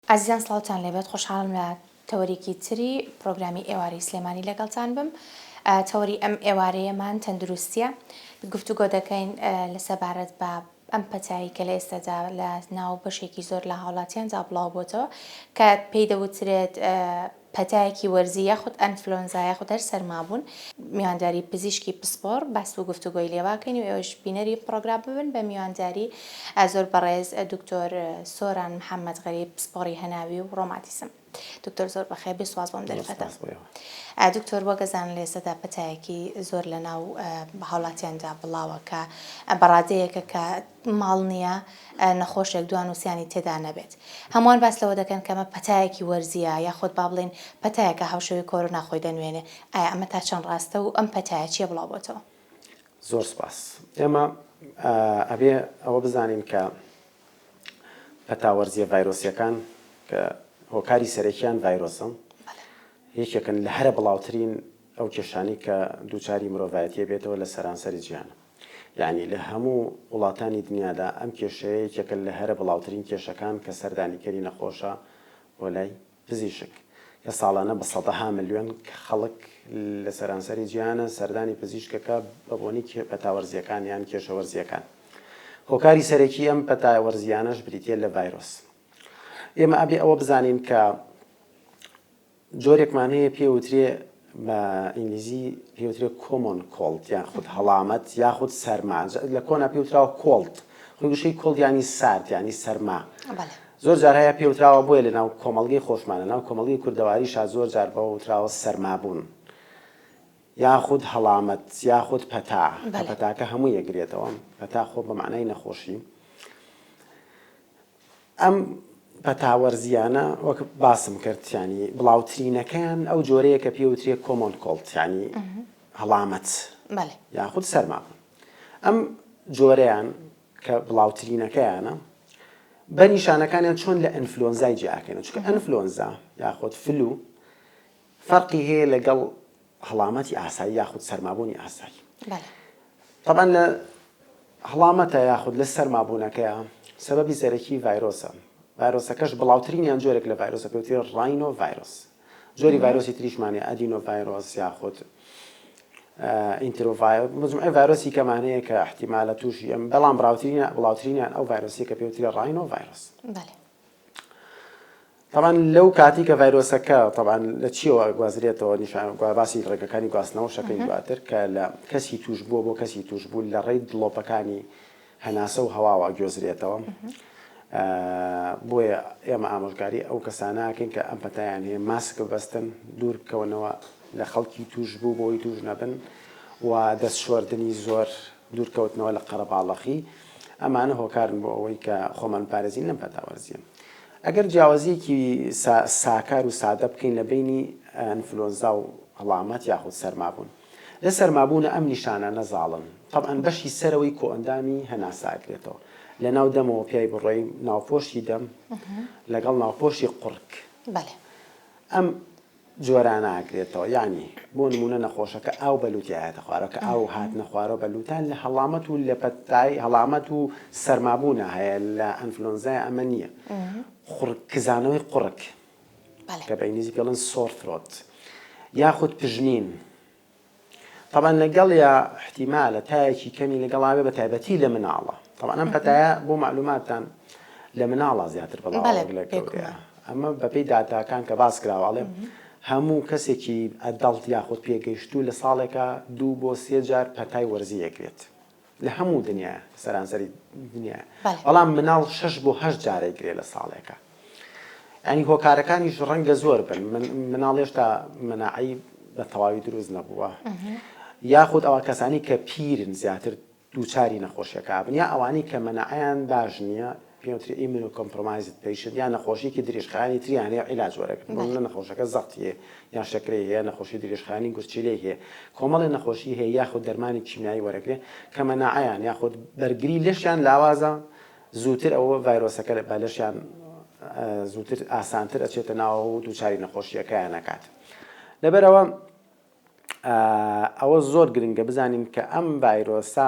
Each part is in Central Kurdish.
ئازیزان سڵاوتان لێبێت خۆشحاڵم لە تەوەرێکی تری پرۆگرامی ئێوارەی سلێمانی لەگەڵتان بم تەوەری ئەم ئێوارەیەمان تەندروستیە گفتوگۆ دەکەین لە سەبارەت بە ئەم پەتایی کە لە ئێستادا لە ناو بەشێکی زۆر لە هاوڵاتیاندا بڵاو بۆتەوە کە پێی دەوترێت پەتایەکی وەرزی یاخود ئەنفلۆنزا یاخود هەر سەرمابوون میوانداری پزیشکی پسپۆڕ باس و گفتوگۆی لێواکەین و ئێوەش بینەری پڕۆگرام ببن بە میوانداری زۆر بەڕێز دکتۆر سۆران محەمەد غەریب پسپۆڕی هەناوی و ڕۆماتیسم دکتۆر زۆر بەخێربێ سوپاس بۆم دەرفەتە دکتۆر وەگەزان لێسەدا پەتایەکی زۆر لە ناو هاوڵاتیاندا بڵاوە کە بەڕادەیەکە کە ماڵ نییە نەخۆشێک دوان و سیانی تێدا نەبێت. هەمووان باس لەوە دەکەن کە ئەمە پەتایەکی وەرزییە یاخود با بڵێین پەتایەکە هاوشێوەی کۆرۆنا خۆی دەنوێنێ، ئایا ئەمە تا چەند ڕاستە و ئەم پەتایە چییە بڵاو بۆتەوە؟ زۆر سپاس. ئێمە ئەبێ ئەوە بزانین کە پەتا وەرزییە ڤایرۆسییەکان کە هۆکاری سەرەکییان ڤایرۆسن، یەکێکن لە هەرە بڵاوترین ئەو کێشانەی کە دووچاری مرۆڤایەتییە بێتەوە لە سەرانسەری جیهانە. یەعنی لە هەموو وڵاتانی دنیادا ئەم کێشەیە یەکێکە لە هەرە بڵاوترین کێشەکان کە سەردانیکەری نەخۆشە بۆ لای پزیشک کە ساڵانە بە سەدەها ملیۆن خەڵک لە سەرانسەری جیهانە سەردانی پزیشکەکە بە بۆنی پەتا وەرزییەکان یان کێشە وەرزییەکان هۆکاری سەرەکی ئەم پەتا وەرزیانەش بریتە لە ڤایرۆس ئێمە ئەبێ ئەوە بزانین کە جۆرێک مانەیە پێ وترێ بە ئینگلیزی پێ وترێ کۆمۆن کۆڵد یان خود هەڵامەت یاخود سەرما لە کۆنا پێ وتراوە کۆڵد خۆی گوشەی کۆڵد یانی سارد یانی سەرما زۆر جار هەیە پێ وتراوە بۆیە لە ناو کۆمەڵگەی خۆشمانە ناو کۆمەڵگەی کوردەواری شا زۆر جار بە وتراوە سەرما بوون یاخود هەڵامەت یاخود پەتا پەتاکە هەموو یەگرێتەوە پەتا خۆ بە معنای نەخۆشی ئەم پەتا وەرزییانە وەک باسم کرد یانی بڵاوترینەکەیان ئەو جۆرەیە کە پێ وترێ کۆمۆن کۆڵت یانی هەڵامەت یاخود سەرماکن ئەم جۆرەیان کە بڵاوترینەکەیانە بە نیشانەکانیان چۆن لە ئەنفلۆنزای جیاکەن چکە ئەنفلۆنزا یاخود فلو فەرقی هەیە لەگەڵ هەڵامەتی ئاسایی یاخود سەرمابوونی ئاسایی تەبەن لە هەڵامەتە یاخود لە سەرمابوونەکەیە سەبەبی سەرەکی ڤایرۆسە ڤایرۆسەکەش بڵاوترینیان جۆرێک لە ڤایرۆسە پێوتری ڕینۆ ڤایرۆس جۆری ڤایرۆسی تریشمانێ ئەدینۆ ڤایرۆس یاخود ئینترۆڤای مجموعی ڤایرۆسی کەمانەیە کە احتیمالە تووشی ئەم بەڵام بڕاوترینە بڵاوترینیان ئەو ڤایرۆسی کە پێوتری ڕینۆ ڤایرۆس طبعا لەو کاتی کە ڤایرۆسەکە طبعا لە چیەوە گوازرێتەوە نیشان باسی ڕێگەکانی گواستنەوە شەکەین دواتر کە لە کەسی توش بووە بۆ کەسی توش بوو لە ڕێی دڵۆپەکانی هەناسە و هەواوە گوێزرێتەوە بۆیە ئێمە ئامۆژگاری ئەو کەسانەکەین کە ئەم پەتیان هەیە ماسک ببەستن دوور بکەونەوە لە خەڵکی توش بوو بۆی توش نەبن و دەست شوردنی زۆر دوورکەوتنەوە لە قەرەباڵەخی، ئەمانە هۆکارن بۆ ئەوەی کە خۆمان بپارێزین لەم پەتاوەرزییە. ئەگەر جیاوازییەکی ساکار و سادە بکەین لە بەینی ئەنفلۆنزا و هەڵامەت یاخود سەرمابوون. لە سەرمابوونا ئەم نیشانانە زاڵن. تەبعەن بەشی سەرەوەی کۆئەندامی هەناسە ئەکرێتەوە. لە ناو دەمەوە پیای بڕۆین، ناوپۆشی دەم لەگەڵ ناوپۆشی قوڕگ. ئەم. جۆرانە ئەکرێتەوە یانی بۆ نموونە نەخۆشەکە ئاو بە لووتی ئەیاتە خوارەوە کە ئاو هاتنە خوارەوە بە لووتان لە هەڵامەت و لە پەتای هەڵامەت و سەرمابوونا هەیە لە ئەنفلۆنزایا ئەمە نییە قوڕگ کزانەوەی قوڕگ کە بە ئینگلیزی پێڵێن سۆر ثرۆت یاخود پژمین تەبعەن لەگەڵیا احتیمالە تایەکی کەمی لەگەڵا بێ بەتایبەتی لە مناڵە تەبعەن ئەم پەتایە بۆ مەعلوماتتان لە مناڵە زیاتر بەڵاوەڕ لە گەورەیە ئەمە بەپێی داتاکان کە باس کراوە ئەڵێ هەموو کەسێکی ئەدەڵت یاخود پێگەیشتوو لە ساڵێکا دوو بۆ سێ جار پەتای وەرزی ئەگرێت. لە هەموو دنیایە سەرانسەری دنیایە بەڵێ. بەڵام مناڵ شەش بۆ هەشت جار ئەیگرێ لە ساڵێکا یانی هۆکارەکانیش ڕەنگە زۆر بن من مناڵ هێشتا مەناعەی بە تەواوی دروست نەبووە یاخود ئەوە کەسانی کە پیرن زیاتر دووچاری نەخۆشیەکە بن یا ئەوانەی کە مەناعەیان باش نییە پێم وترێ ئیمیونۆ کۆمپرۆمایزد پەیشنت یان نەخۆشیەکی درێژخایەنی تری یان هەیە عیلاج وەرەگرن بۆ نمونە نەخۆشەکە زەختی هەیە یان شەکرەی هەیە نەخۆشی درێژخایەنی گورچیلەی هەیە کۆمەڵێ نەخۆشی هەیە یاخود دەرمانی کیمیایی وەرەگرێ کە مەناعەیان یاخود بەرگری لەشیان لاوازە زووتر ئەوە ڤایرۆسەکە بە لەشیان زووتر ئاسانتر ئەچێتە ناوە و دووچاری نەخۆشیەکەیان نەکات لەبەرەوە ئەوە زۆر گرنگە بزانین کە ئەم ڤایرۆسە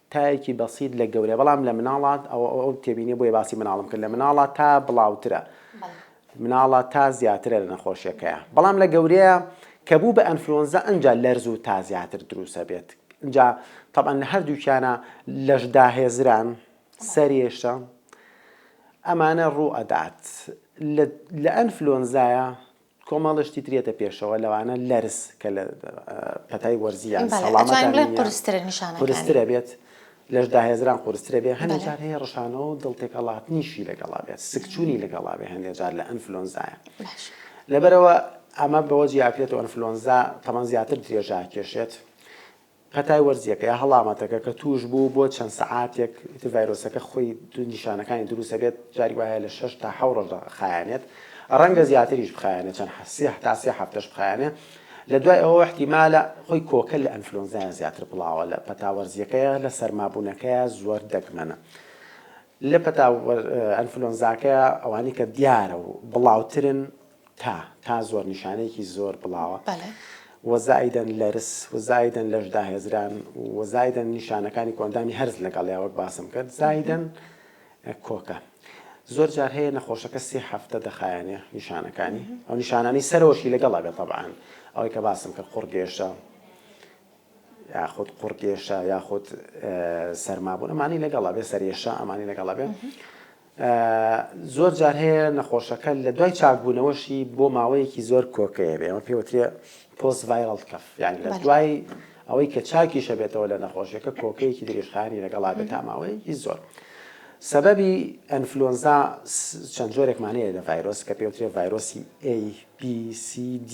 تایەکی بەسیت لە گەورە بەڵام لە مناڵا ئەوە ئەو تێبینیە بۆیە باسی مناڵم کرد لە مناڵا تا بڵاوترە مناڵا تا زیاترە لە نەخۆشیەکەیە بەڵام لە گەورەیە کە بوو بە ئەنفلۆنزا ئەجا لەرز و تا زیاتر دروسە بێت جا طبعا لە هەردووکیانە لەشدا هێزران سەرێشە ئەمانە ڕوو ئەدات لە ئەنفلۆنزایە کۆمەڵە شتی تر یەتە پێشەوە لەوانە لەرز کە لە پەتای وەرزی یان سەڵامەتانە قورسترە نیشانەکانی قورسترە بێت لەش داهێزران قورسترە بێت هەندێک جار هەیە ڕشانەوە و دڵتێکەڵاتنیشی لەگەڵا بێت سکچوونی لەگەڵا بێت هەندێک جار لە ئەنفلۆنزایە لەبەرەوە ئەمە بەوە جیاکرێتەوە ئەنفلۆنزا تەمان زیاتر درێژا کێشێت پەتای وەرزییەکە یا هەڵامەتەکە کە تووشبوو بۆ چەند سەعاتێک ئیتر ڤایرۆسەکە خۆی نیشانەکانی دروست ئەبێت جاری وایە لە شەش تا حەو ڕۆژدا خایەنێت ڕەنگە زیاتریش بخایەنێت چەند حەسیە هەتا سێ هەفتەش بخایەنێ لە دوای ئەوە احتیمالە خۆی کۆکە لە ئەنفلۆنزایە زیاتر بڵاوە لە پەتا وەرزیەکەیە لە سەرمابوونەکەیە زۆر دەگمەنە لە پەتا ئەنفلۆنزاکەیە ئەوانی کە دیارە و بڵاوترن تا، تا زۆر نیشانەیەکی زۆر بڵاوە. و زائیدەن لەرز، و زائیدەن لەشداهێزران، و زائیدەن نیشانەکانی کۆئەندامی هەرس لەگەڵیە وەک باسم کرد، زائیدەن کۆکە. زۆر جار هەیە نەخۆشەکە سێ هەفتە دەخایەنێ نیشانەکانی، ئەو نیشانانەی سەرەوەشی لەگەڵە بێ تەبعەن ئەوەی کە باسم کرد قوڕگێژە، یاخود قوڕکێشە یاخود سەرمابوون ئەمانی لەگەڵ ئەبێ سەرێشە ئەمانی لەگەڵ ئەبێ زۆر جار هەیە نەخۆشەکە لە دوای چاکبوونەوەشی بۆ ماوەیەکی زۆر کۆکەیە بێ ئەمە پێوترێ پۆست ڤایرڵ کەف یعنی لە دوای ئەوەی کە چاکیشە بێتەوە لە نەخۆشیەکە کۆکەیەکی درێژخانی لەگەڵا بێت تا ماوەیەکی زۆر. سەبەبی ئەنفلۆنزا چەند جۆرێکمانەیە لە ڤایرۆس کە پێوترێ ڤایرۆسی ABCD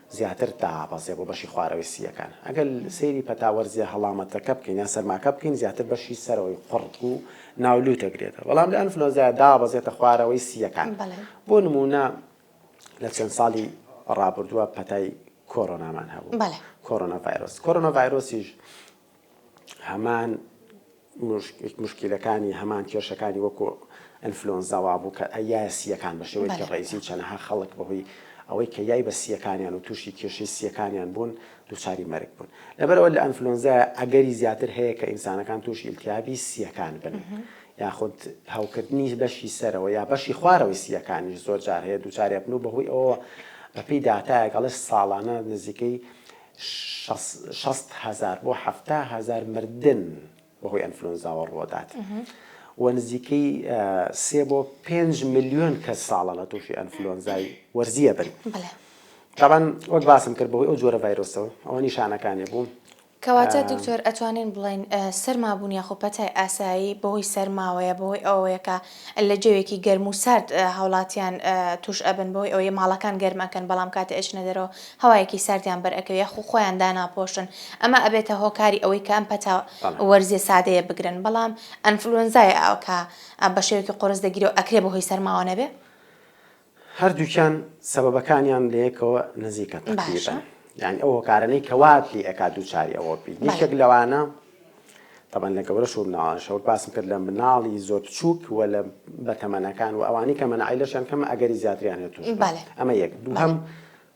زیاتر دائەبەزێ بۆ بەشی خوارەوەی سییەکان. ئەگەر سەیری پەتا وەرزییە هەڵامەتەکە بکەین یان سەرماکە بکەین زیاتر بەشی سەرەوەی قوڕگ و ناو لووت دەگرێتەوە. بەڵام لە ئەنفلۆنزایە دابەزێتە خوارەوەی سییەکان. بۆ نموونە لە چەند ساڵی ڕابردووە پەتای کۆرۆنامان هەبوو، کۆرۆناڤایرۆس. کۆرۆناڤایرۆسیش هەمان موشکیلەکانی هەمان کێشەکانی وەکو ئەنفلۆنزا وابوو کە یایە سییەکان بە شێوەیەکی ڕێزی چەنەها خەڵک بەهۆی ئەوەی کە یای بە سییەکانیان و تووشی کێشەی سییەکانیان بوون دووچاری مەرگ بوون لەبەرئەوە لە ئەنفلۆنزایە ئەگەری زیاتر هەیە کە ئینسانەکان تووشی ئیلتیابی سییەکان بن یاخود هەوکردنی بەشی سەرەوە یا بەشی خوارەوەی سییەکانیش زۆر جار هەیە دووچارێ بن و بەهۆی ئەوە بەپێی داتایەک ئەڵێ ساڵانە نزیکەی شەست هەزار بۆ حەفتا هەزار مردن بەهۆی ئەنفلۆنزاوە ڕووەدات و نزیکەی سێ بۆ پێنج ملیۆن کەس ساڵانە تووشی ئەنفلۆنزای وەرزیە بن. تاوان وەک باسم کرد بەوەی ئەو جۆرە ڤایرۆسەوە ئەوە نیشانەکانی بوو کەواتە دکتۆر ئەتوانین بڵین سەرمابوون یاخۆ پەتای ئاسایی بەهۆی سەرماوەیە بەهۆی ئەوەیەکە لە جەوێکی گەرم و سارد هاوڵاتیان توش ئەبن بەوەی ئەوەی ماڵەکان گەرم ئەکەن بەڵام کاتێ ئەچنە دەرەوە هەوایەکی ساردیان بەر ئەکەوێ یاخو خۆیان داناپۆشن ئەمە ئەبێتە هۆکاری ئەوەی کە ئەم پەتا وەرزیە سادەیە بگرن بەڵام ئەنفلوەنزایە کە بەشێوەکی قوڕس دەگیرێ و ئەکرێ بەهۆی سەرماوە نەبێ؟ هەردووکیان سەبەبەکانیان لەیەکەوە نزیکە تەقریبەن یانی ئەو هۆکارانەی کە وات لێ ئەکات دووچاری ئەوە بی یەکێک لەوانە تەبەن لە گەورە شو مناڵانش وەک باسم کرد لە مناڵی زۆر بچووک و لە بەتەمەنەکان و ئەوانی کە منعیلەشیان کەمە ئەگەری زیاتریان هێت ئەمە یەک دووهم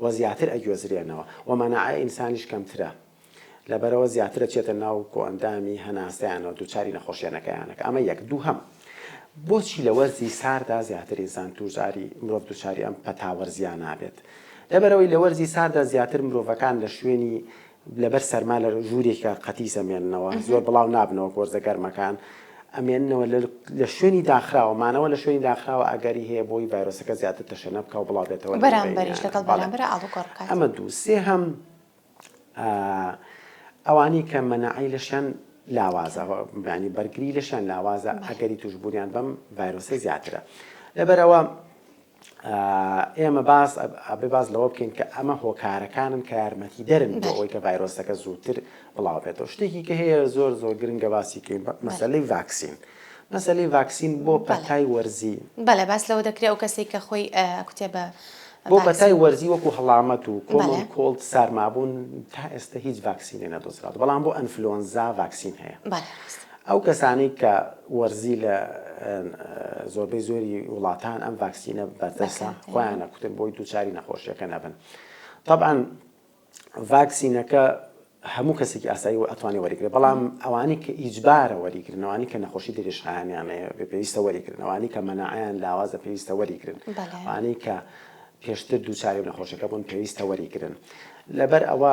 و زیاتر ئەگوێزرێنەوە و مەناعەی ئینسانیش کەمترە لەبەرئەوە زیاتر ئەچێتە ناو کۆئەندامی هەناسەیانەوە دووچاری نەخۆشیە نەکەیانەکە ئەمە یەک دووهەم بۆچی لە وەرزی ساردا زیاتر ئینسان تووشداری مرۆڤ دووچاری ئەم پەتاوەرزیانە ئەبێت لەبەرئەوەی لە وەرزی ساردا زیاتر مرۆڤەکان لە شوێنی لەبەر سەرما لە ژوورێکە قەتیس ئەمێننەوە، زۆر بڵاو نابنەوە گۆرزە گەرمەکان ئەمێننەوە لە شوێنی داخراوە، مانەوە لە شوێنی داخراوە ئەگەری هەیە بۆی ڤایرۆسەکە زیاتر تەشەنە بکا و بڵاو بێتەوە ئەمە دوو سێهەم ئەوانەی کە مەناعەی لەشیان لاوازە بانی بەرگری لەشیان لاوازە ئەگەری توشبوونیان بەم ڤایرۆسە زیاترە لەبەرەوە ئێمە باس ئەبێ باس لەوە بکەین کە ئەمە هۆکارەکانن کە یارمەتی دەرن بۆ ئەوەی کە ڤایرۆسەکە زووتر بڵاوبێتەوە شتێکی کە هەیە زۆر زۆر گرنگە باسی کەین مەسلەی ڤاکسین. مەسلەی ڤاکسین بۆ پەتای وەرزی بەە باس لەوە دەکرێت ئەو کەسێک کە خۆی کوتێ بە بۆ پەتای وەرزی وەکو هەڵامەت و کۆڵ کۆڵت سارمابوون تا ئێستا هیچ ڤاکسینێ نەدۆزرات بەڵام بۆ ئەنفلۆنزا ڤاکسین هەیە. ئەو کەسانەی کە وەرزی لە زۆربەی زۆری وڵاتان ئەم ڤاکسینە بەردەسە خۆیان نەکوتن بۆی دووچاری نەخۆشیەکە نەبن طبعاً ڤاکسینەکە هەموو کەسێکی ئاسایی و ئەتوانی وەریگرێت بەڵام ئەوانی کە ئیجبارە وەریگرنەوانی کە نەخۆشی دریشخانیانەیە بە پێویستە وەریگرنەوانی کە مەناعیان لاوازە پێویستە وەریگرن ئەوانەی کە پێشتر دووچاری و نەخۆشەکە بوون پێویستە وەریگرن لەبەر ئەوە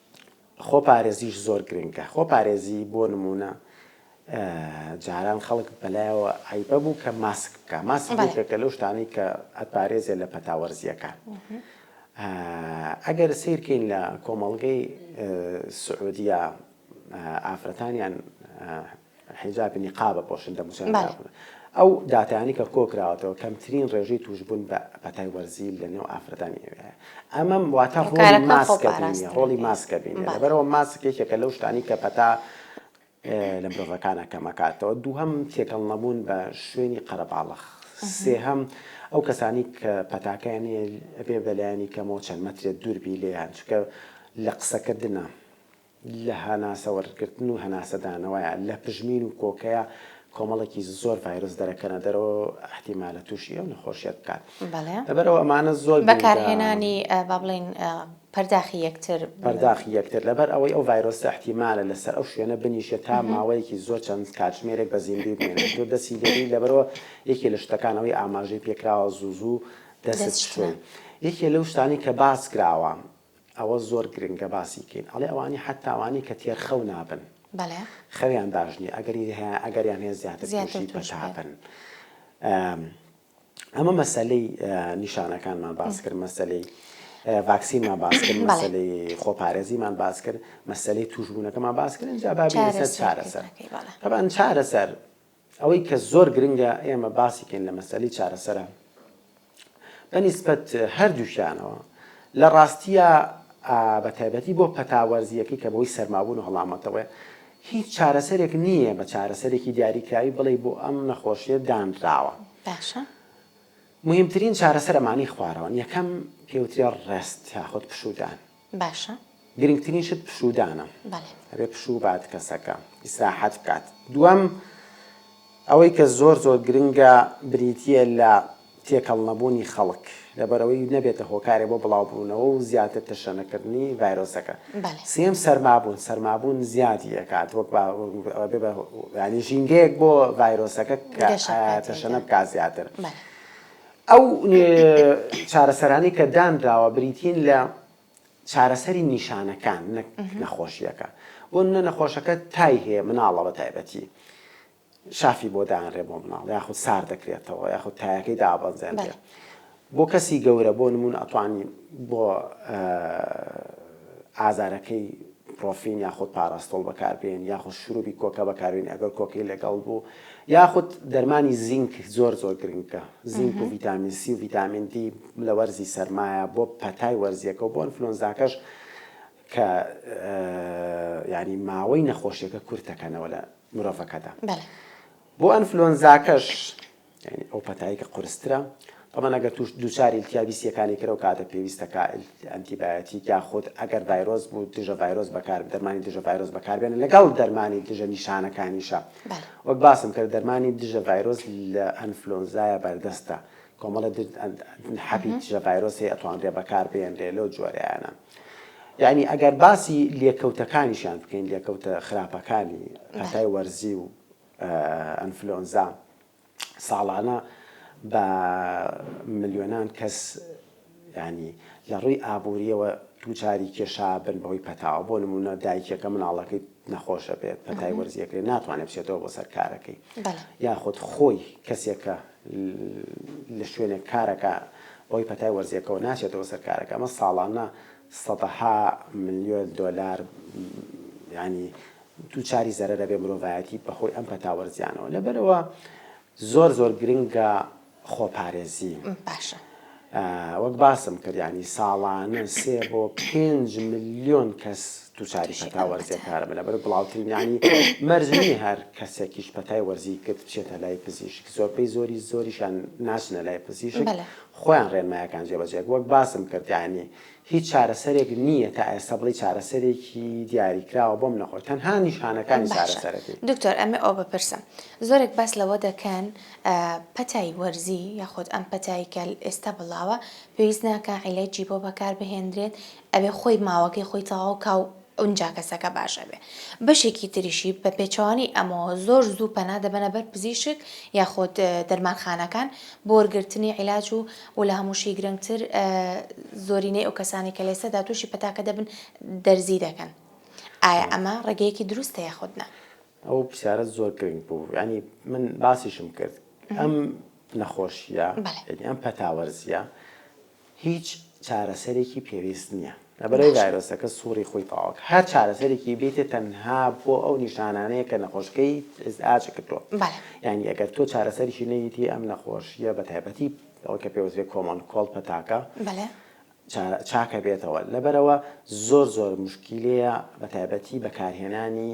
خۆپارێزیش زۆر گرنگە، خۆپارێزی بۆ نموونە جاران خەڵک بەلایەوە عەیبە بوو کە ماسک بکە ماسک بێکە لەو شتانی کە ئەتپارێزێ لە پەتاوەرزیەکان ئەگەر سیرکەین لە کۆمەڵگەی سعودیە ئافرەتانیان حیجاب نیقاب ئەپۆشن دەم و چاویان بەڵێ. داخ بکەن ئەو داتایانەی کە کۆ کراوەتەوە کەمترین ڕێژەی تووشبوون بە پەتای وەرزی لە نێو ئافرەتانی ئێوەیە ئەمەم واتە ڕۆڵی هۆکارەکە خۆ ماسکە بینیە پاراستنە ڕۆڵی پێ ماسکە بینیە بەڵێ. لەبەرئەوە ماسک یەکێکە لەو شتانەی کە پەتا ئێ لە مرۆڤەکانا کەم ئەکاتەوە دووهەم تێکەڵ نەبوون بە شوێنی قەرەباڵغ سێهەم ئەو کەسانی کە پەتاکەیان نیە ئەبێ بە لایەنی کەمەوە چەند مەترێ دوور بی لێیان چونکە لە قسە کردنا لە هەناسە وەرگرتن و هەناسەدانەوەیە، لە پژمین و کۆکەیە، کۆمەڵێکی زۆر ڤایرۆس دەرەکەنە دەرەوە و ئیحتیمالە تووشی ئەو نەخۆشییەت بکات. لەبەرئەوە ئەمانە زۆر گرنگە. بەکارهێنانی با بڵێین پەرداخی یەکتر. پەرداخی یەکتر، لەبەر ئەوەی ئەو ڤایرۆسە ئیحتیمالە لەسەر ئەو شوێنە بنیشێت تا ماوەیەکی زۆر چەند کاتژمێرێک بە زیندووی بمێنێت، تۆ دەستی لێ بێی، لەبەرئەوە یەکێ لە شتەکان ئەوەی ئاماژەی پێکراوە زوو زوو دەستت بشۆی. یەکێ لەو شتانەی کە باس کراوە. ئەوە زۆر گرنگە باسی کەین ئەڵێ ئەوانی حەتا ئەوانی کە تێر خەو نابن خەویان باش نیە ئەگەری هەیە ئەگەریان هەیە زیاتر توشی پەتا بن ئەمە مەسەلەی نیشانەکانمان باس کرد مەسەلەی ڤاکسینمان باس کرد مەسەلەی خۆپارێزیمان باس کرد مەسەلەی توشبوونەکەمان باس کرد جا بابی لەسەر چارەسەر طبعا چارەسەر ئەوەی کە زۆر گرنگە ئێمە باسی کەین لە مەسەلەی چارەسەرە بە نیسبەت هەردووکیانەوە لە ڕاستیە بە تایبەتی بۆ پەتا وەرزیەکەی کە بەوەی سەرمابوون و هەڵامەتەوەێ هیچ چارەسەرێک نییە بە چارەسەرێکی دیاریکراوی بڵێ بۆ ئەم نەخۆشیە دانراوە باشە مهمترین چارەسەرەمانی خوارەوەن یەکەم پێوترێ ڕێست یاخود پشودان باشە. گرنگترین شت پشوودانە. بەڵێ. ئەبێ پشوو بات کەسەکە. ئیسراحەت بکات. دووەم، ئەوەی کە زۆر زۆر گرنگە بریتییە لە تێکەڵ نەبوونی خەڵک، لەبەرئەوەی نەبێتە هۆکارێ بۆ بڵاو بوونەوە و زیاتر تەشەنەکردنی ڤایرۆسەکە. بەڵێ. سێیەم، سەرمابوون، سەرمابوون زیادی ئەکات وەک با ئەبێ بە یانی ژینگەیەک بۆ ڤایرۆسەکە کە تەشەنە بکات زیاتر. بەڵێ. ئەو چارەسەرانەی کە دانراوە بریتین لە چارەسەری نیشانەکان نەک نەخۆشیەکە بۆ منە نەخۆشەکە تای هەیە مناڵە بە تایبەتی شافی بۆ دانرێ بۆ مناڵ یاخود سار دەکرێتەوە یاخود تایەکەی دابەزێنێت بۆ کەسی گەورە بۆ نمونون ئەتوانی بۆ ئازارەکەی پرۆفین یاخود پاراستۆڵ بەکاربێن یاخود شروبی کۆکا بەکاربێنی ئەگەر کۆکەی لەگەڵ بوو یاخود دەرمانی زینک زۆر زۆر گرنگە زینک و ڤیتامین سی و ڤیتامین دی لە وەرزی سەرمایە بۆ پەتای وەرزیەکە و بۆ ئەنفلۆنزاکەش کە یانی ماوەی نەخۆشیەکە کورتەکەنەوە لە مرۆڤەکەدا بۆ ئەنفلۆنزاکەش یانی ئەو پەتایە کە قورسترە طبعا ئەگەر توش دووچار التیابی سیەکانی کرەو کاتە پێویستە کا ئەنتیبایۆتیک یا خۆت ئەگەر ڤایرۆس بوو دژە ڤایرۆس بەکار دەرمانی دژە ڤایرۆس بەکاربێنە لەگەڵ دەرمانی دژە نیشانەکانیشە وەک باسم کرد دەرمانی دژە ڤایرۆس لە ئەنفلۆنزایە بەردەستە کۆمەڵە حەبی دژە ڤایرۆس هەیە ئەتوانرێ بەکار بێنرێ لەو جۆرەیانە. یعنی ئەگەر باسی لێکەوتەکانیشیان بکەین لێکەوتە خراپەکانی ئەتای وەرزی و ئەنفلۆنزا ساڵانە بە ملیۆنان کەس یانی لە ڕووی ئابوورییەوە دووچاری کێشە بن بەهۆی پەتاوە بۆ نمونە دایکێکە مناڵەکەی نەخۆشە بێت پەتای وەرزیەکەی ناتوانێت بچێتەوە بۆ سەر کارەکەی یاخود خۆی کەسێکە لە شوێنێک کارەکە بۆی پەتای وەرزیەکەەوە ناچێتەوە سەر کارەکە ئەمە ساڵانە سەدەها ملیۆن دۆلار ینی دووچاری زەرەر ئەبێ مرۆڤایەتی بەهۆی ئەم پەتا وەرزیانەوە لەبەرەوە زۆر زۆر گرنگە خۆپارێزی باشە وەک باسم کردیانی ساڵانە سێ بۆ پێنج ملیۆن کەس دووچاری پەتا وەرزیەکارە بە لەبەر بڵاوترینانی مەرزنی هەر کەسێکیش پەتای وەرزی کرد بچێتە لای پزیشک زۆربەی زۆری زۆریشان ناچنە لای پزیشک خۆیان ڕێنمایەکان جێبەجێک وەک باسم کردیانی. هیچ چارەسەرێک نییە تا ئێستا بڵێی چارەسەرێکی دیاریکراوە بۆم نەخۆش تەنها نیشانەکانی باشە چارەسەرەکەی. دکتۆر ئەمێ ئەوە بپرسم زۆرێک باس لەوە دەکەن پەتای وەرزی یاخود ئەم پەتای کە ئێستا بڵاوە پێویست ناکا عیلەجی بۆ بەکار بهێندرێت ئەبێ خۆی ماوەکەی خۆی تەواو کا و ئونجا کەسەکە باش ئەبێ. بەشێکی تریشی بە پێچەوانەی ئەمەوە زۆر زوو پەنا دەبەنە بەر پزیشک یاخود دەرمانخانەکان بۆ وەرگرتنی عیلاج و و لە هەمووشی گرنگتر زۆرینەی ئەو کەسانی کە لێسەدا تووشی پەتاکە دەبن دەرزی دەکەن. ئایا ئەمە ڕێگەیەکی دروستە یاخود نا؟ ئەو پرسیارەت زۆر گرنگ بوو. یانی من باسیشم کرد ئەم نەخۆشییە، یانی ئەم پەتاوەرزییە هیچ چارەسەرێکی پێویست نیە لەبەرەی ڤایرۆسەکە سوڕی خۆی تەواوکە هەر چارەسەرێکی بیت تەنها بۆ ئەو نیشانانەیە کە نەخۆشکەی ئیزعاج کردوە یانی ئەگەر تۆ چارەسەریی نەیتی ئەم نەخۆشیە بەتایبەتی ئەوەی کە پێوەست بێت کۆمەڵ کۆڵ پەتاکە چاکەبێتەوە لەبەرەوە زۆر زۆر مشکیلەیە بەتایبەتی بەکارهێنانی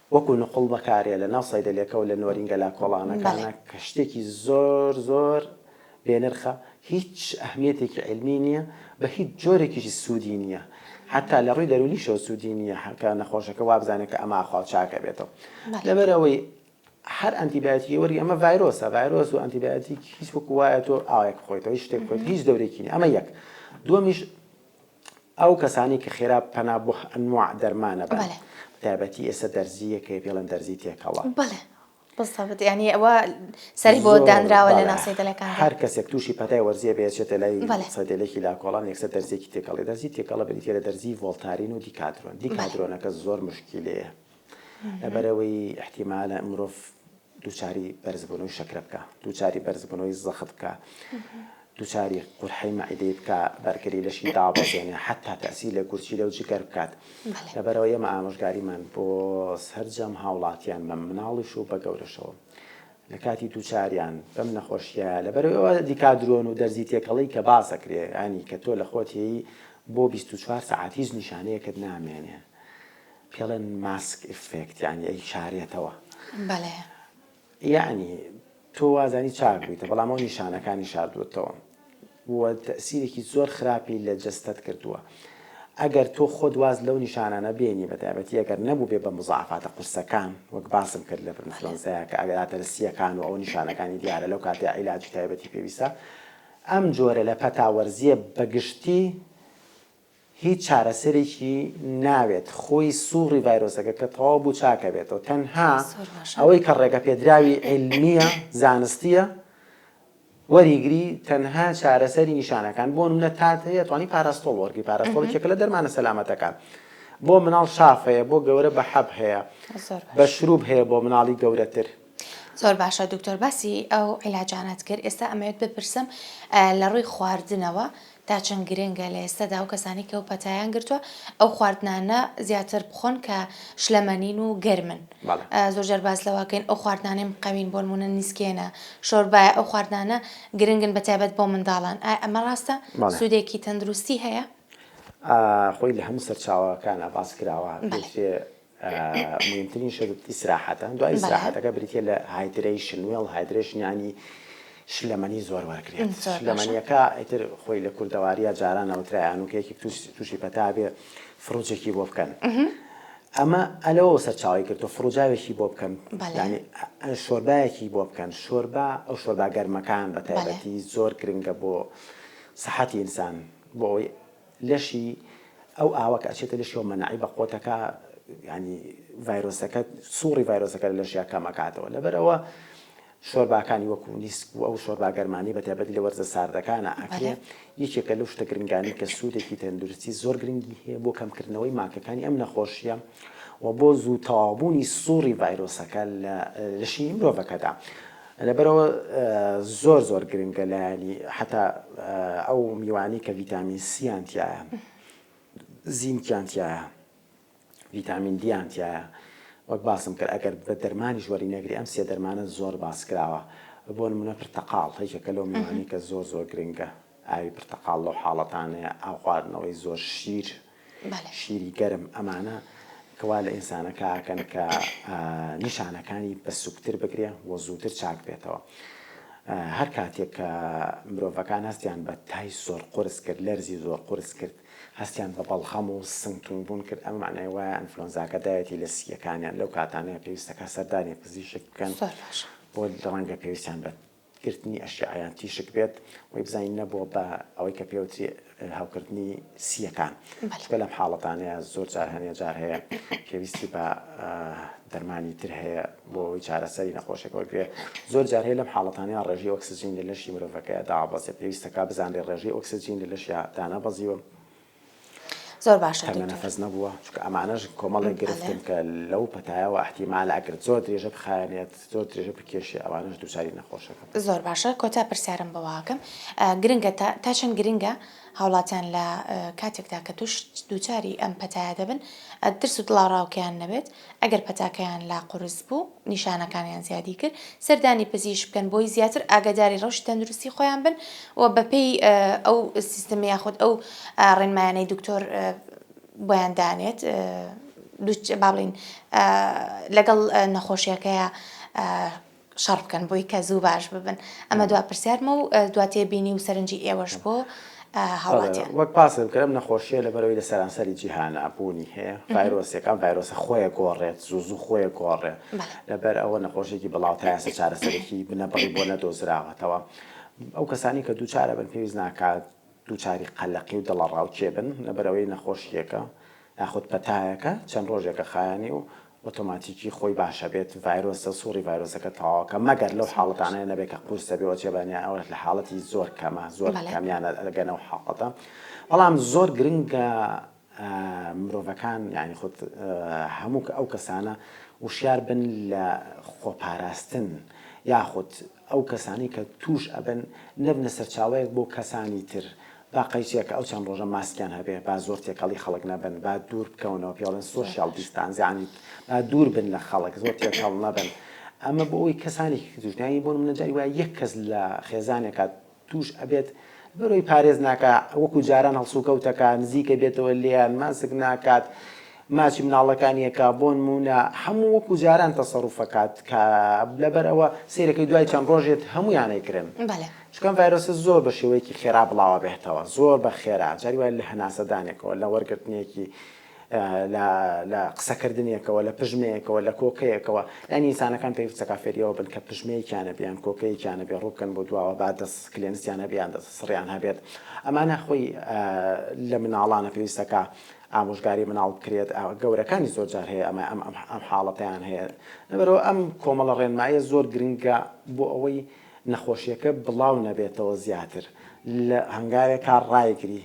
وەکو نقوڵ بەکارێ لە ناو سەیدەلێکە و لە نۆرینگە لاکۆڵانەکانە کە شتێکی زۆر زۆر بێنرخە هیچ ئەهمیەتێکی عیلمی نیە بە هیچ جۆرێکیشی سودی نیە حەتا لە ڕووی دەرونیشەوە سودی نیە کە نەخۆشەکە وابزانێ کە ئەمە ئاخۆ چاکە بێتەوە لەبەر ئەوەی هەر ئەنتیبایۆتیکی وەری ئەمە ڤایرۆسە ڤایرۆس و ئەنتیبایۆتیک هیچ وەکو وایە تۆ ئاوێک خۆیتەوە هیچ شتێک خۆیت هیچ دەورێکی نیە ئەمە یەک دووەمیش ئەو کەسانەی کە خێرا پەنا بۆ ئەنواع دەرمان ئەبەن بەلێ. بەتایبەتی ئێستا دەرزییە کە پێڵێن دەرزی تێکەڵە. بەلێ بزەبت یانی ئەوە سەری بۆ زۆر دانراوە لە بەلێ ناو سەیدەلەکان دا. هەر کەسێک تووشی پەتای وەرزییە بێ ئەچێتە لای بەلێ. سەیدەلێکی لاکۆڵان یەکسەر دەرزییەکی تێکەڵی دەرزی تێکەڵە بریتییە لە دەرزیی ڤۆڵتارین و دیکادرۆن بەلێ. دیکادرۆنەکە زۆر مشکیلەیە. لەبەرئەوەی ئیحتیمالە مرۆڤ دووچاری بەرزبوونەوەی شەکرە بکا، دووچاری بەرزبوونەوەی زەخت بکا، دووچاری قورحەی مەعیدەی بکا، بەرگری لەشی دابەزێنێ، حەتتا تەئسیر لە گورچیلە و جگەر بکات. لەبەرئەوە ئێمە ئامۆژگاریمان بۆ سەرجەم هاوڵاتیان بە مناڵیش و بە گەورەشەوە لە کاتی دووچاریان بەم نەخۆشییە، لەبەرئەوەی ئەوە دیکادرۆن و دەرزی تێکەڵەی کە باس ئەکرێ، یانی کە تۆ لە خۆت هێی بۆ بیست و چوار سەعات هیچ نیشانەیەکت نامێنێ. پێڵێن ماسک ئیفێکت یانی ئەی شارێتەوە بەلێ یانی تۆ وازانی چاک بوویتە بەڵام ئەو نیشانەکانی شاردووەتەوە وە تەسیرێکی زۆر خراپی لە جەستەت کردووە ئەگەر تۆ خۆت واز لەو نیشانانە بێنی بە تایبەتی ئەگەر نەبوو بێ بە مزعفاتە قورسەکان وەک باسم کرد لە فرمفلۆنزەیە کە ئەگەراتە لەسیەکان و ئەو نیشانەکانی دیارە لەو کاتێ عیلاجی تایبەتی پێویستە ئەم جۆرە لە پەتاوەرزیە بەگشتی هیچ چارەسەرێکی ناوێت خۆی سوڕی ڤایرۆسەکە کە تەواو بوو چاکەبێتەوە تەنها ئەوەی کە ڕێگەپێدراوی عیلمیە زانستیە وەریگری تەنها چارەسەری نیشانەکان بۆ منە تات هەیە توانی پاراستۆڵ وەرگی پاراستۆڵ کێکە لە دەرمانە سەلامەتەکان بۆ مناڵ شاف هەیە بۆ گەورە بە حەب هەیە بە شروب هەیە بۆ مناڵی گەورەتر زۆر باشە دکتۆر باسی ئەو عیلاجانەت کرد ئێستا ئەمەوێت بپرسم لە ڕووی خواردنەوە تا چەند گرنگە لە ئێستادا و کەسانی کە و پەتایان گرتووە ئەو خواردنانە زیاتر بخۆن کە شلەمەنین و گەرمن زۆر جار باز لەواکەین ئەو خواردنانەی مقەوین بۆ نمونە نیسکێنە شۆربایە ئەو خواردنانە گرنگن بە تایبەت بۆ منداڵان ئای ئەمە ڕاستە سوودێکی تەندروستی هەیە خۆی لە هەموو سەرچاوەکانە باس کراوە موهیمترین شت ئیسراحەتە، دوای ئیسراحەتەکە بریتیە لە هایدرەیشن، وێڵ هایدرەیشن یانی شلەمەنی زۆر وەرگرێت، شلەمەنیەکە ئیتر خۆی لە کوردەواریە جاران ئەوترا هەنوکەیەکی توشی پەتا بێ فڕوجێکی بۆ بکەن، ئەمە لەوەوە سەرچاوەی گرتوە فڕوجاوێکی بۆ بکەن یانی شۆربایەکی بۆ بکەن، شۆربا ئەو شۆربا گەرمەکان بەتایبەتی زۆر گرنگە بۆ سەحەتی ئینسان بۆ ئەوەی. لەشی ئەو ئاوە کە ئەچێتە لەشیەوە مەناعی بە قۆتەکە یانی ڤایرۆسەکە سوڕی ڤایرۆسەکە لە لەشیا کەم ئەکاتەوە لەبەر ئەوە شۆرباکانی وەکو نیسک و ئەو شۆربا گەرمانی بە تایبەتی لە وەرزە ساردەکانە ئەکرێ یەکێکە لەو شتە گرنگانی کە سوودێکی تەندروستی زۆر گرنگی هەیە بۆ کەمکردنەوەی ماکەکانی ئەم نەخۆشیە و بۆ زوو تەواوبوونی سوڕی ڤایرۆسەکە لە لەشی مرۆڤەکەدا. لەبەرئەوە زۆر زۆر گرنگە لایەنی حەتا ئەو میوانی کە ڤیتامین سیان تایە زینکیان تایە ڤیتامین دیان تایە وەک باسم کرد ئەگەر بە دەرمانی ژوەری نەگری ئەم سێ دەرمانە زۆر باس کراوە بۆ نمونە پرتەقاڵ هەیکەکە لەو میوانی کە زۆر زۆر گرنگە ئاوی پرتەقاڵ لەو حاڵەتانەیە ئاو خواردنەوەی زۆر شیر شیری گەرم ئەمانە کە وا لە ئینسانەکە ئەکەن کە نیشانەکانی بە سوکتر بگرێ و زووتر چاک بێتەوە هەر کاتێک کە مرۆڤەکان هەستیان بە تای زۆر قرس کرد لەرزی زۆر قرس کرد هەستیان بە بەڵخەم و سنگتون بوون کرد ئەمە معنای وایە ئەنفلۆنزاکە دایەتی لە سییەکانیان لەو کاتانەیە پێویستەکە سەردانی پزیشک بکەن بۆ ڕەنگە پێویستیان بە گرتنی ئەشیعە یان تیشک بێت وەی بزانین نەبووە بە ئەوەی کە پێوتری هەوکردنی سییەکان چکە لەم حاڵەتانەیە زۆر جار هەنێ جار هەیە پێویستی بە دەرمانی تر هەیە بۆ ئەوی چارەسەری نەخۆشێک وەرگێ زۆر جار هەیە لەم حاڵەتانەیە ڕێژی ئۆکسسیجین لە لەشی مرۆڤەکەیە داوابەزێ پێویستەکە بزانێ ڕێژی ئۆکسسیجین لە لەشیا دانابەزیوە زۆر باشە دکتۆر. تەرمە نەفەس نەبووە چونکە ئەمانەش کۆمەڵێک گرفتن کە لەو پەتایەوە ئەحتیمالە ئەگەر زۆر درێژە بخایەنێت زۆر درێژە بکێشێ ئەوانەش دووچاری نەخۆشەکە بکەن. زۆر باشە کۆتا پرسیارم بەوەئەکەم گرنگە تا تا چەند گرنگە هاوڵاتیان لە کاتێکدا کە توش دووچاری ئەم پەتایە دەبن ترس و دڵاڕاوکێیان نەبێت ئەگەر پەتاکەیان لا قورس بوو، نیشانەکانیان زیادی کرد، سەردانی پزیشک بکەن بۆی زیاتر ئاگەداری ڕەوشی تەندروستی خۆیان بن و بەپێی ئەو سیستم یاخود ئەو ڕێنمایانەی دکتۆر بۆیان دانێت دوچ بابلین لەگەڵ نەخۆشیەکەیە شەڕ بکەن بۆی کە زوو باش ببن ئەمە دوا پرسیارمە و دوا تێبینی و سەرنجی ئێوەش بۆ هاوڵاتیان. وەک باسم کرد ئەم نەخۆشیە لەبەرەوەی لە سەرانسەری جیهانا بوونی هەیە ڤایرۆسێک ئەم ڤایرۆسە خۆیە گۆڕێت زوو زوو خۆیە گۆڕێ لەبەر ئەوە نەخۆشێکی بڵاو تا ئێستا چارەسەرێکی بنەبڕی بۆ نەدۆزراوەتەوە ئەو کەسانی کە دووچارە بن پێویست ناکات دووچاری قەلەقی و دڵەڕاوکێ بن لەبەرئەوەی نەخۆشییەکە یاخود پەتایەکە چەند ڕۆژێکە خایەنی و ئۆتۆماتیکی خۆی باشەبێت، ڤایرۆسە، سوڕی ڤایرۆسەکە تەواوەکە، مەگەر لەو حاڵەتانەی نەبێت کە قورس دەبێت و چێبانیان ئەوەش لە حاڵەتی زۆر کەمە، زۆر کەمیان ئەگەنە ئەو حاڵەتە، بەڵام زۆر گرنگە مرۆڤەکان یانی خود هەموو ئەو کەسانە وشیار بن لە خۆپاراستن یاخود ئەو کەسانەی کە تووش ئەبن نەبنە سەرچاوەیەک بۆ کەسانی تر با قەیچێکە ئەو چەند ڕۆژە ماسکیان هەبێ با زۆر تێکەڵی خەڵک نەبن با دوور بکەونەوە پێ بڵێن سۆشیال دیستانس یانی با دوور بن لە خەڵک زۆر تێکەڵ نەبن ئەمە بۆ ئەوی کەسانێکی تووش نەبن یانی بۆ نموونە جاری وایە یەک کەس لە خێزانێکا توش ئەبێت بەرۆی پارێز ناکا وەکو جاران هەڵسوکەوتەکا نزیکە بێتەوە لێیان ماسک ناکات ماچی مناڵەکانی ئەکا بۆنمونە هەموو وەکو جاران تەسەروف ئەکات کە لەبەر ئەوە سەیرەکەی دوای چەند ڕۆژێت هەموویان ئەیکرن چونکە ئەم ڤایرۆسە زۆر بە شێوەیەکی خێرا بڵاوە بێتەوە زۆر بە خێرا جاری وایە لە هەناسەدانێکەوە لە وەرگرتنێکی لە لە قسەکردنێکەوە، لە پژمەیەکەوە، لە کۆکەیەکەوە، یانی ئینسانەکان پێویستە کە فێری ئەوە بن کە پژمەیەکیان هەبێ یان کۆکەیەکیان هەبێ، ڕوو بکەن بۆ دواوە، با دەست کلێنسیان هەبێ یان دەست سڕیان هەبێت. ئەمانە خۆی لە مناڵانە پێویستە کە ئامۆژگاری مناڵ بکرێت. گەورەکانیش زۆر جار هەیە ئەمە ئەم ئەم حاڵەتەیان هەیە. لەبەرئەوە ئەم کۆمەڵە ڕێنماییە زۆر گرنگە بۆ ئەوەی نەخۆشیەکە بڵاو نەبێتەوە زیاتر لە هەنگاوێکا ڕایگری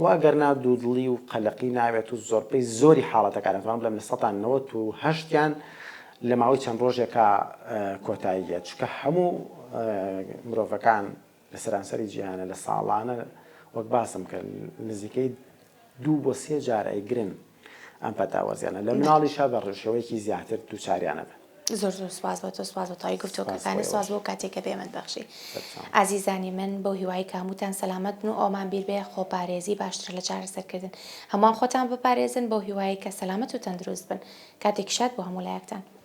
و ئەگەر نا دوودڵی و قەلەقی ناوێت و زۆربەی زۆری حاڵەتەکان ئەتوان بڵێم لە سەدا نەوەت و هەشت یان لە ماوەی چەند ڕۆژێکا کۆتایی دێت چونکە هەموو مرۆڤەکان لە سەرانسەری جیهانە لە ساڵانە وەک باسم کرد نزیکەی دوو بۆ سێ جار ئەیگرن ئەم پەتاوەزیانە لە مناڵیشا بە ڕشێوەیەکی زیاتر دووچاریان ئەبن. زۆر زۆر سوپاس بۆ تۆ سوپاس بۆ تەواوی گفتۆگەکانت سوپاس بۆ ئەو کاتەی کە پێمن بەخشی ئازیزانی من بەو هیوای کە هەمووتان سەلامەت بن و ئەوەمان بیر بێ خۆپارێزی باشترە لە چارەسەرکردن هەمووان خۆتان بپارێزن بەو هیوایەی کە سەلامەت و تەندروست بن کاتێکی شاد بۆ هەموو لایەکتان.